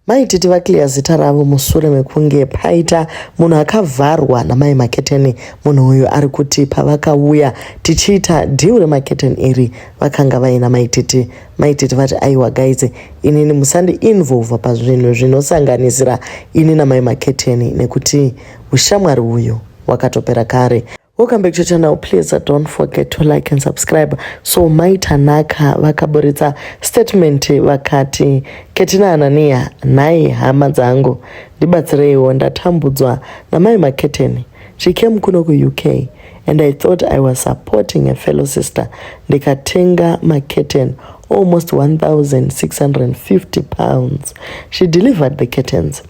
Mai Titi vaclear zita ravo musure mekunge paita munhu akavharwa namai Maketeni. Munhu uyu ari kuti pavakauya tichiita deal remaketeni iri vakanga vaina mai Titi. Mai Titi vati aiwa guys, inini musandi involva pazvinhu zvinosanganisira ini namai Maketeni nekuti ushamwari uyu wakatopera kare. Welcome back to channel. Please uh, don't forget to like and subscribe. So Mai Tanaka vakaburitsa statement vakati Ketina Anania nhai hama dzangu ndibatsireiwo ndatambudzwa namai Maketeni. She came kuno ku UK and I thought I was supporting a fellow sister ndikatenga maketeni almost 1650 pounds. She delivered the curtains.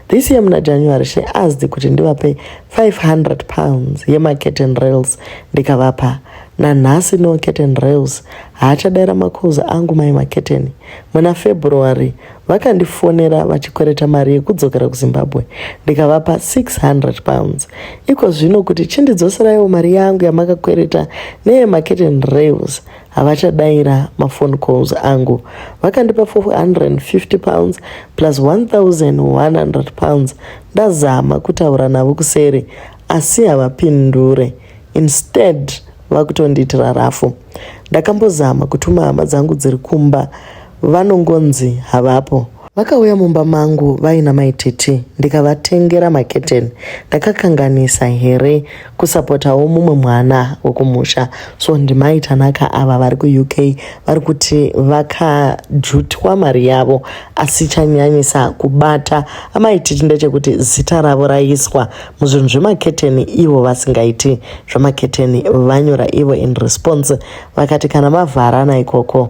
This year muna January she asked kuti ndivape 500 pounds yema curtain rails ndikavapa. Nanhasi no curtain rails haachadaira makuza angu mai maketeni. Muna February vakandifonera vachikwereta mari yekudzokera kuZimbabwe ndikavapa 600 pounds. Iko zvino kuti chindidzoseraiwo mari yangu yamakakwereta neye maketeni rails havachadaira mafone calls angu vakandipa 450 pounds plus 1100 pounds ndazama kutaura navo kuseri asi havapindure instead vakutondiitira rafu ndakambozama kutuma hama dzangu dziri kumba Vanongonzi havapo. Vakauya mumba mangu vaina mai Titi ndikavatengera maketeni. Ndakakanganisa here kusapotawo mumwe mwana wekumusha. So ndimai Tanaka ava vari kuUK vari kuti vakajutwa mari yavo asi chanyanyisa kubata amai Titi ndechekuti zita ravo raiswa muzvinhu zvemaketeni ivo vasingaiti zvemaketeni vanyora ivo in response vakati kana mavharana ikoko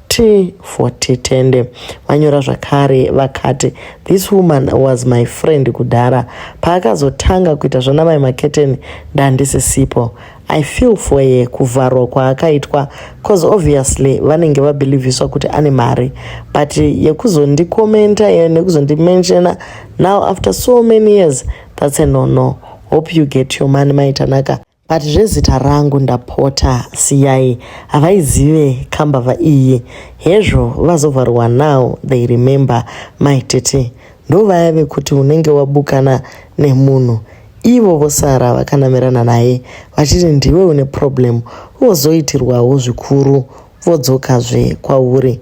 T40 Tende vanyora zvakare vakati, This woman was my friend kudhara. Paakazotanga kuita zvanamai Maketeni ndandisisipo. I feel for ye kuvharwa kwaakaitwa cause obviously vanenge vabhilivhiswa kuti ane mari but yekuzondikomenta ye nekuzondimenshena now after so many years that's a no no hope you get your money maitanaka But zvezita rangu ndapota siyai havaizive kambava iyi hezvo vazovharwa now they remember mai tete ndovaya vekuti unenge wabukana nemunhu ivo vosara vakanamirana naye vachiti ndiwe une problem vozoitirwawo zvikuru vodzokazve kwauri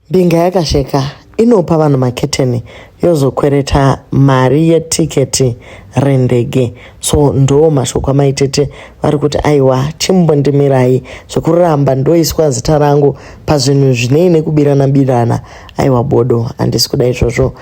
Mbinga yakasheka inopa vanhu maketeni yozokwereta mari yetiketi rendege so ndoo mashoko amaitete vari kuti aiwa chimbondimirai zvekuramba ndoiswa zita rangu pazvinhu zvinei nekubirana birana aiwa bodo handisi kuda izvozvo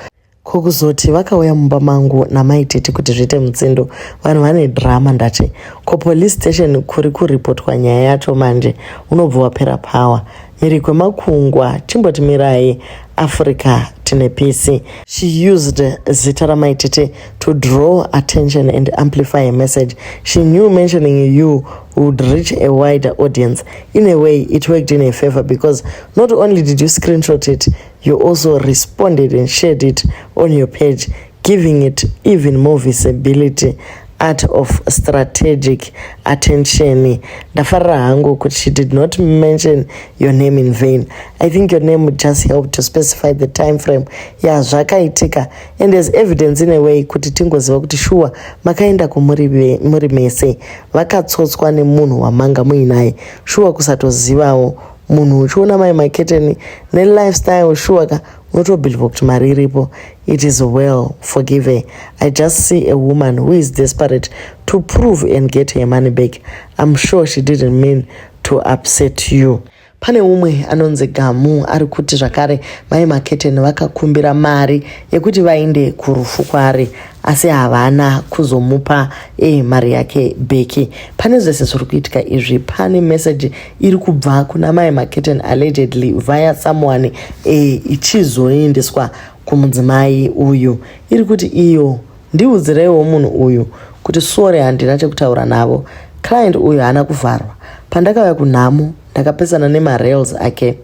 Ko kuzoti vakauya mumba mangu namai tete kuti zviite mutsindo vanhu vane drama ndati ko police station kuri kuripotwa nyaya yacho manje unobva wapera power miri kwemakungwa timboti mirai africa tine pisi she used zita ramai tete to draw attention and amplify her message she knew mentioning you would reach a wider audience in a way it worked in her favor because not only did you screenshot it You also responded and shared it on your page, giving it even more visibility art of strategic attention ndafarira hangu kuti she did not mention your name in vain i think your name would just help to specify the time frame ya zvakaitika and as evidence in a way kuti tingoziva kuti shuwa makaenda kumuri mese vakatsotswa nemunhu wamanga muinaye shuwa kusatozivawo munhu uchiona mai maketeni nelifestyle shuwa ka unotobhilivha kuti mari iripo it is well forgive i just see a woman who is desperate to prove and get her money back im sure she didn't mean to upset you pane umwe anonzi gamu ari kuti zvakare mai maketeni vakakumbira mari yekuti vainde kurufu kwaari asi havana kuzomupa e mari yake beki pane zvese zviri kuitika izvi pane meseji iri kubva kuna mai maketen allegedly via someone e, ichizoendeswa kumudzimai uyu iri kuti iyo ndiudzireiwo munhu uyu kuti sori handina chekutaura navo client uyu haana kuvharwa pandakauya kunhamo ndakapesana nemarails ake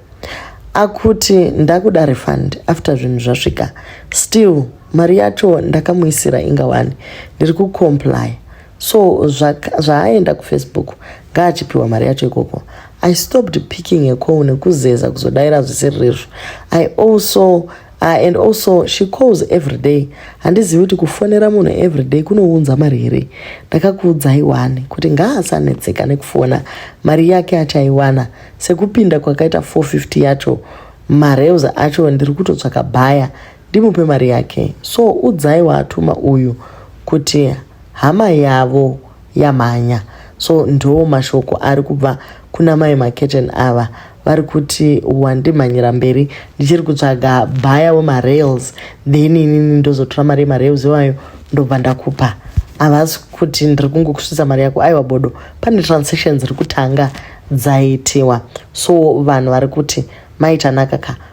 akuti ndakuda refund after zvinhu zvasvika still mari yacho ndakamuisira inga wani ndiri kucomply so zvaaenda kufacebook ngaachipiwa mari yacho ikoko i stopped picking a call nekuzeza kuzodaira zvisiri rezvo i also uh, and also she calls every day handizivi kuti kufonera munhu every day kunounza mari here ndakakuudzai wani kuti ngaasanetseka nekufona mari yake achaiwana sekupinda kwakaita 450 yacho mareus acho ndiri kutotsvaka bhaya Ndimupe mari yake. So udzai waatuma uyu kuti hama yavo yamhanya. So ndoo mashoko ari kubva kuna mai maketen ava vari kuti wandimhanyira mberi ndichiri kutsvaga bhaya wemarails then inini ndozotora mari yemarails iwayo ndobva ndakupa havasi kuti ndiri kungokusvitsa mari yako aiwa bodo pane transaction dziri kutanga dzaitiwa so vanhu vari kuti maitanaka ka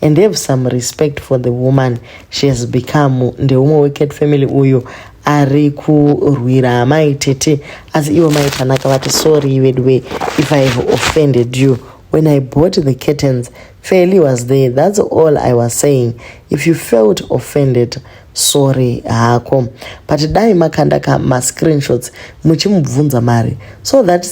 and have some respect for the woman she has become ndeumwe wecat family uyo ari kurwira amai tete asi ivo mai tanaka vati sorry veduwe if i have offended you when i bought the curtains fairly was there that's all i was saying if you felt offended sorry hako but dai makanda ka mascreenshots muchimubvunza mari so that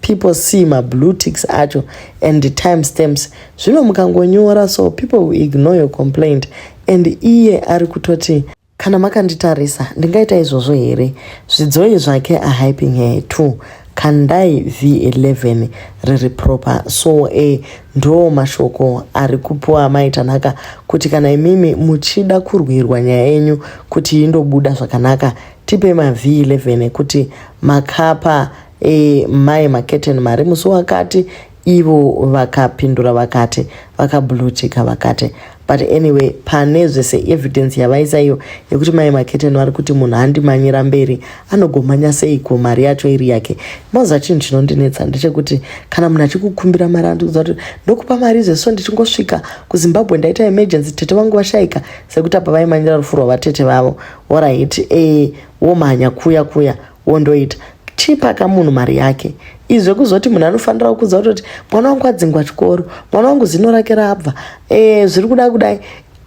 people see mablue ticks acho and the time stamps zvino mukangonyora so people will ignore your complaint and iye ari kutoti kana makanditarisa ndingaita izvozvo here zvidzoi zvake ahyping her two kandai v11 riri proper so a eh, ndoo mashoko ari kupiwa amai tanaka kuti kana imimi muchida kurwirwa nyaya yenyu kuti indobuda zvakanaka tipe mav11 kuti makapa e, mai maketen mari musi wakati Ivo vakapindura vakati vakablutika vakati but anyway pane zvese evidence yavaisa iyo yekuti mai maketeni vari kuti munhu andimanyira mberi anogomanya seiko mari yacho iri yake moza chinhu chinondinetsa ndechekuti kana munhu achikukumbira mari andiudza kuti ndokupa mari izvo so ndichingosvika kuzimbabwe ndaita emergency tete vangu vashaika sekuti apa vaimanyira rufu rwavatete vavo orit e eh, womhanya kuya kuya wondoita chipa ka munhu mari yake izve kuzoti munhu anofanira kukudza kutoti mwana wangu adzingwa chikoro mwana wangu zino rake rabva e, zviri kuda kudai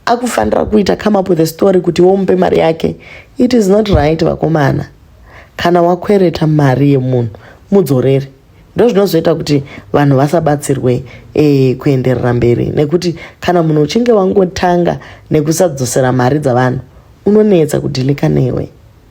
akufanira kuita come up with a story kuti womupe mari yake it is not right vakomana kana wakwereta mari yemunhu mudzorere ndo zvinozoita kuti vanhu vasabatsirwe e, kuenderera mberi nekuti kana munhu uchinge wangotanga nekusadzosera mari dzavanhu unonetsa kudhilika newe